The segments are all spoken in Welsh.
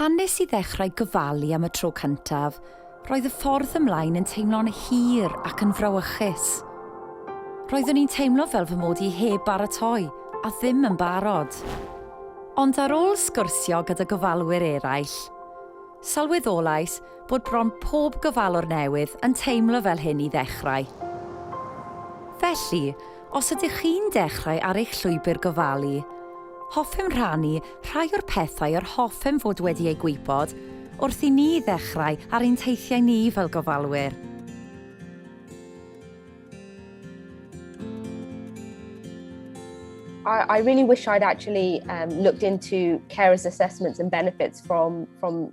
Pan nes i ddechrau gofalu am y tro cyntaf, roedd y ffordd ymlaen yn teimlo'n hir ac yn frawychus. Roeddwn i'n teimlo fel fy mod i heb baratoi a ddim yn barod. Ond ar ôl sgwrsio gyda gofalwyr eraill, sylweddolais bod bron pob gofalwr newydd yn teimlo fel hyn i ddechrau. Felly, Os ydych chi'n dechrau ar eich llwybr gofalu, hoffem rhannu rhai o'r pethau yr hoffem fod wedi eu gwybod wrth i ni ddechrau ar ein teithiau ni fel gofalwyr. I, I really wish I'd actually um, looked into carers' assessments and benefits from, from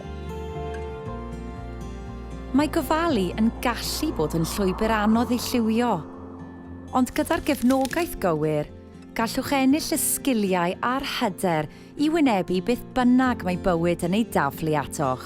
Mae gofalu yn gallu bod yn llwybr anodd ei lliwio, ond gyda'r gefnogaeth gywir, gallwch ennill y sgiliau a'r hyder i wynebu beth bynnag mae bywyd yn ei daflu atoch.